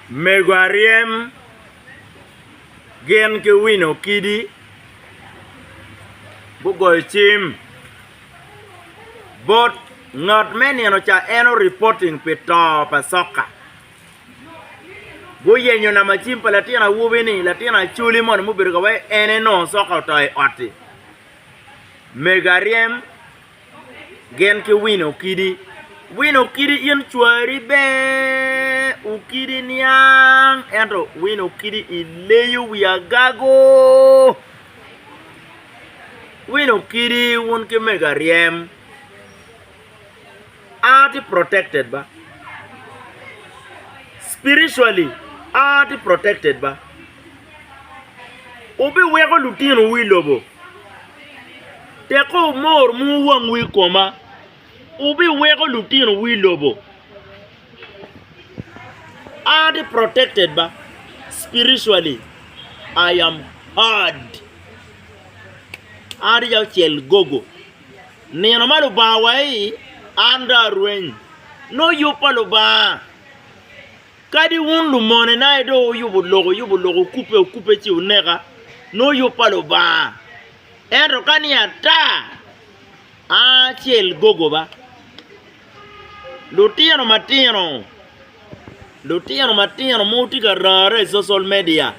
Mego aryem gin ki wino kidi gugoyo cim bot ngat me nino ca en o reporting pi to pa soka guyenyo namba cim pa latin awobi ni latin acholi moni mubedo ka waci en aye nongo soka oto i ot-ti mego aryem Gin ki wino kidi. Wino kidi in cwari ber u kidi niang ento wino kidi i leyo wi agago. Wino kidi wun ki mega ryem a tye protected ba spiritually a tye protected ba. Wubiweko lutinowu i lobo, tekko mor muu wangwu i koma. Wubiweko lutinowu i lobo. Are they protected ba? Spiritually, I am heard. An rica ocel gogo. Nino ma Lubanga awae-i, an dong arweny. Nongo yub pa Lubanga Kadi wun lumonena aye dong wuyubo lok, wuyubo lok, wukubbe, wukubbe ci wuneka, nongo yub pa Lubanga. Ento ka ni ata, aa acel gogoba. Lutino matino, lutino matino ma wutye ka rare i social media,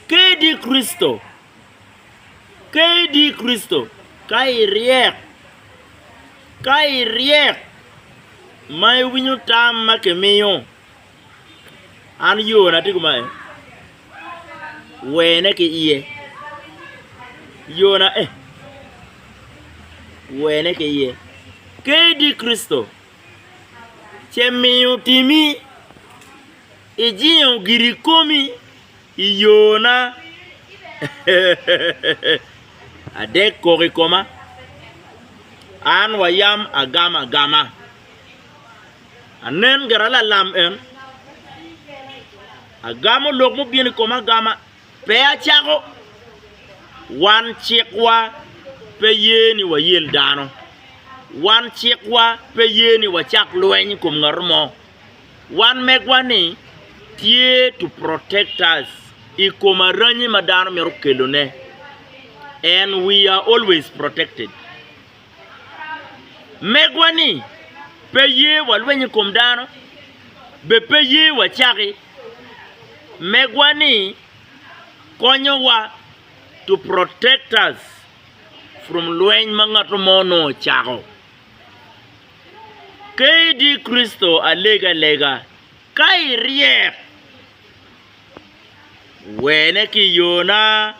kadi Kricito, kadi Kricito ka iryek, Ka iryek ma iwinyo tam ma kimiyo, an yona tye kumae, wene ki iye. Yona eh, wene ki iye. KD. Kricito ce miyo timi, ijingo giri komi I yona adek kok i koma, an wa yam agamo agama. Anen gira lalam en, agamo lok mubino i koma agama, pe acako. Wan cikwa pe ye ni wayel dano, wan cikwa pe ye ni wacak lweny i kom ngat mo. Wan megwa ni tye to protect us i kom aranyi ma dano mito kelo ne and we are always protected. Megwa ni pe ye wa lweny i kom dano be pe ye wa caki. Megwa ni konyo wa to protect us from lweny ma ngato mo nongo ocako. Kadi Kricito alega lega, ka iryek, wene ki yona.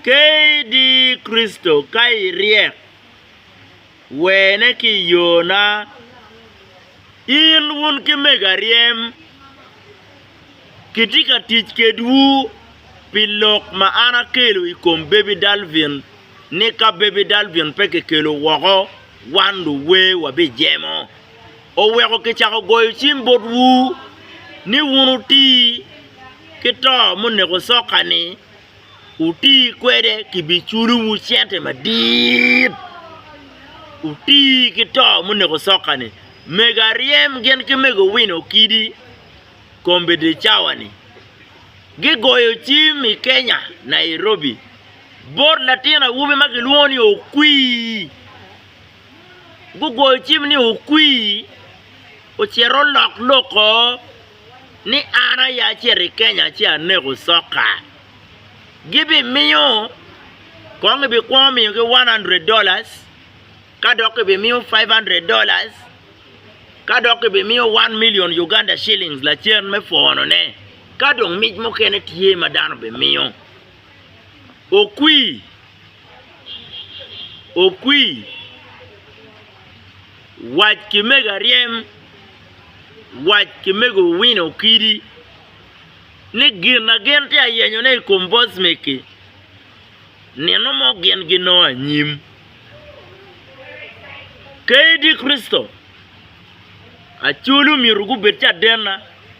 Kadi Kricito ka iryek, wene ki yona. In wun ki mega ryem, kitye ka tic kedwu pi lok ma an akelo i kom Baby Dalvin. ni ka Baby Dalvin pe kikelo woko, wan luwer wabijemo. Oweko kicako goyo cim botwu ni wun wuti ki to muneko soka-ni, wuti kwede kibiculowu cente madit. Wuti ki to muneko soka-ni. Mego Aryem gin ki Mego Win Okidi, Kombeddi Cawani, gigoyo cim i Kenya, Nairobi. Bot latin awobi ma gilwongo ni Okwi, gugoyo cim ni Okwi ocito olok loko ni an aye acito i Kenya ci aneko soka. Gibimiyo kong gibikwongo miyogi one hundred dollars ka dok gibimiyo five hundred dollars ka dok gibimiyo one million Uganda shillings lacen me pwonone ka dong mic mukene tye ma dano bimiyo. Okwi, okwi, wac ki mego aryem, wac ki mego Owino Okidi ni gin ma gin tye ka yenyone i kom Bosmeki, nino mo gin ginongo anyim. Kadi Kricito, Acholi omyero gubed cadenna.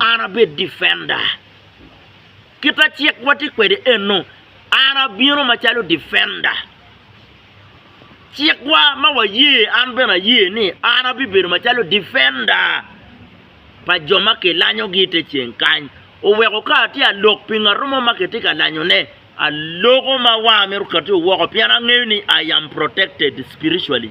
An abed difenda. Kit ma cikwa tye kwede eno, an abino macalo difenda. Cikwa ma waye, an bene aye ni an abibedo macalo difenda pa jo ma kilanyogi i te ceng kany. Oweko ka atye ka lok pi ngat mo ma kitye ka lanyone, aloko ma wanga mito katio woko pien angeyo ni I am protected spiritually.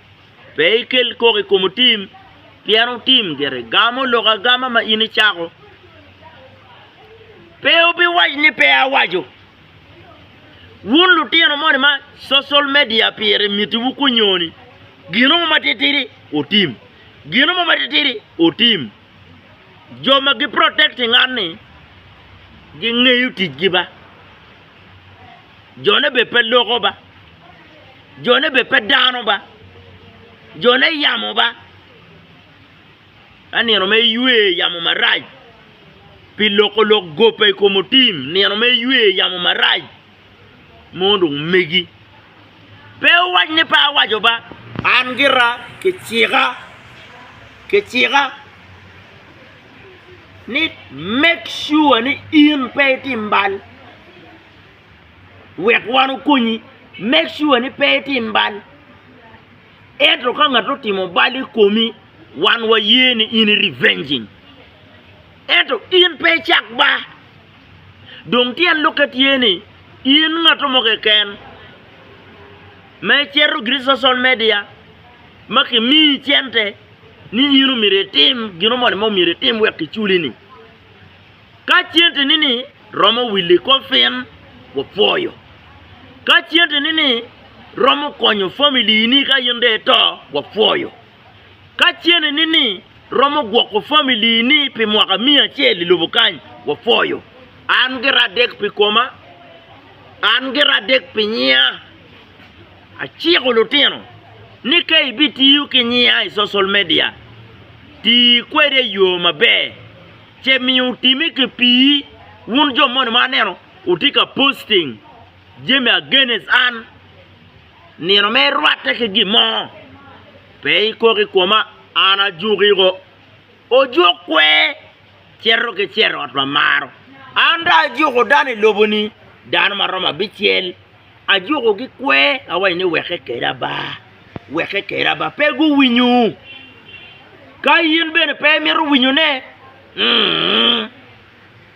Pe ikel kok i kom otim, pien otim gire gamo lok agama ma in icako. Pe wubiwac ni pe awaco. Wun lutino moni ma cocal media pire mitiwu kunyoni, gino mo matitidi otim, gino mo matitidi otim. Jo ma giprotect ngat-ni gingeyo ticgi ba. Jone bene pe loko ba. Jone bed pe dano ba, jone yamo ba, ka nino mere ywe yamo marac pi loko lok gope i kom otim, nino mere ywe yamo marac mo dong megi. Pe wuwac ni pe awaco ba. An gira kicika, kicika ni make sure ni in pe itim bal. wek wan okonyi make sure ni pe itim bal. Ento ka ngat otimo bal i komi, wan waye ni in i revenging. Ento in pe icak ba. Dong tyen lokke tye ni in ngat mo keken ma icito gin i social media ma kimiyi cente ni in omyero itim gino moni ma omyero itim wek kiculi ni. Ka centeni ni romo wili kofin, wapwoyo. Ka centeni ni romo konyo family ni ka in dong ito, wapwoyo. Ka centeni ni romo gwoko family ni pi mwaka miya acel i lobo kany, wapwoyo. An gira adek pi koma, an gira adek pi nyiya. Aciko lutino ni ka ibitiyo ki nyiya i social media, ti kwede i yo maber. ce miyo otime ki pii, wun jo moni ma aneno wutye ka posting jami against an, nino mere irwatte ki gin mo, pe ikok i koma, an ajukiko. Ojuk kwer cito ki cerrot ma maro, an dong ajuko dano i lobo-ni, dano ma romo abicel. Ajukogi kwer, awaco ni, 'Weke keda ba, weke keda ba. Pe guwinyo. Ka in bene pe imito winyone,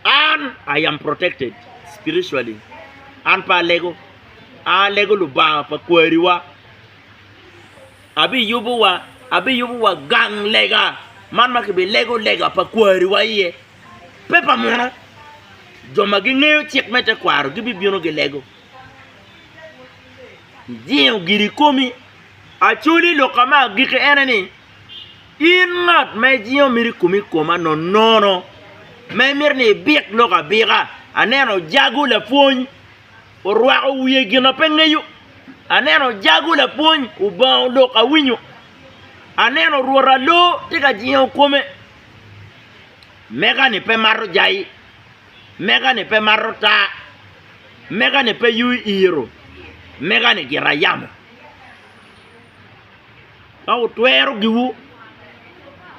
an I am protected spiritually, an pe alego, an alego Lubanga pa kwariwa, abiyubowa, abiyubowa gang lega man ma kibilego lega pa kwariwa iye. Pe pa muno, jo ma gingeyo cik me tekwaro gibibino gilego. Ijingo giri ikomi. Acholi, lok ka me agikki ene ni, in ngat ma ijingo mito ikomi i koma nonono, ma imito ni ibik lok abika. Aneno ojago lapwony orwako wiye gin ma pe ngeyo, aneno ojago lapwony obongo lok awinyo, aneno rwot aloo tye ka jingo kome. Mega-ni pe mato jai, mega-ni pe mato taa, mega-ni pe yuyo iro, mega-ni gira yamo. Ka wutwero giwu,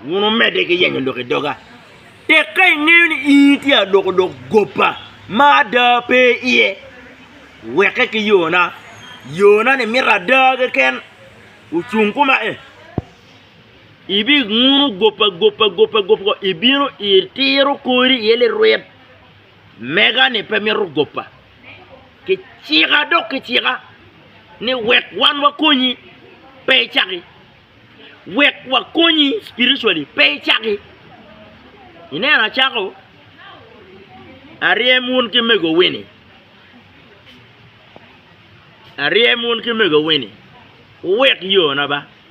wun wumedde ki yenyo lok i doga. Tek ka ingeyo ni ii tye ka loko dok goba ma ada pe iye, weke ki yona, yona-ni mito ada keken. Wucung kuma ee. Ibinguno gopa gopa gopa gopa, ibino itiro kori iye lirwit. Mega-ni pe mito gopa. Kicika dok kicika ni wek wan wakonyi, pe icaki. Wek wakonyi spiritually, pe icaki. Ineno acako aryem wun ki megowi-ni, aryem wun ki megowi-ni, wuwek yona ba.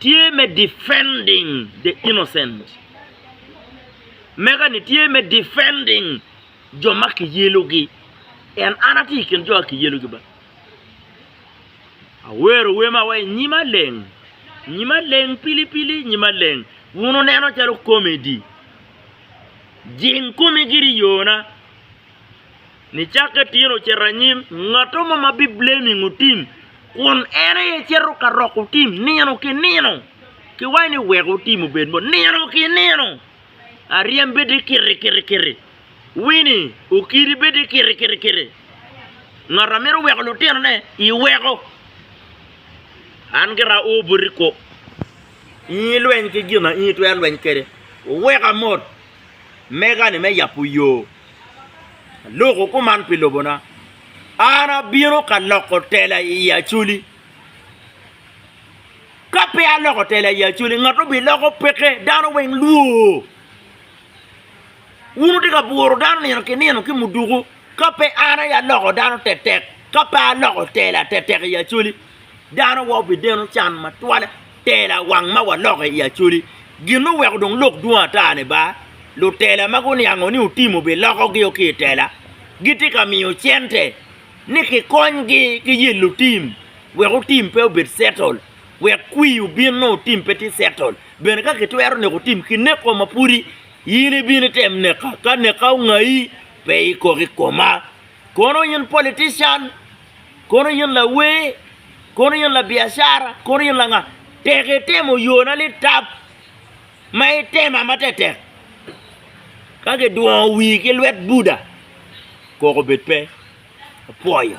Tye me defending the innocent. Mega ni tye me defending jo ma kiyelogi. En an atye i kin jo ma kiyelogi ba. Awero wer ma waci nyima leng, nyima leng pili pili nyima leng. Wun wuneno calo comedy. Jing komi giri i yona. Nicakke tin ocito anyim, ngatto mo ma biblamingo tim, kun en aye cito ka roko tim nino ki nino. Kiwaco ni weko tim obed mo nino ki nino. Aryem bedi kiti kiti kiti. Wini, okiri bedi kiti kiti kiti. Ngat a mito weko lutinone, iweko. An gira aor boti kop. In ilweny ki gin ma in itwero lweny kwede. Weka mot! mega-ni me yabo yo. Aluko kuman pi lobona. An abino ka loko tela i yi Acholi. Ka pe aloko tela i yi Acholi, ngat obiloko peke, dano weng lwoo. Wun wutye ka bworo dano nino ki nino ki muduku, ka pe an aye aloko dano tetek, ka pe aloko tela tetek i yi Acholi. Dano wa obideno can matwale, tela wang ma waloke i Acholi. Gin ma oweko dong lok dwong ata ni ba, lutela ma guniango ni Otim obilokogi-o ki i tela, gitye ka miyo cente ni kikonygi ki yelo Otim wek Otim pe obed settle, wek kwir obin nongo Otim pe tye settle. Bene ka kitwero neko Otim, kineko ma pwodi in ibino item neka, ka neka ongayi, pe ikok i koma. Kono in politician! Kono in lawer, kono in labiacara, kono in langa, tek itemo yona litap ma itema matetek ka gidwongo wii ki lwet Buddha, koko bed pe, apwoyo.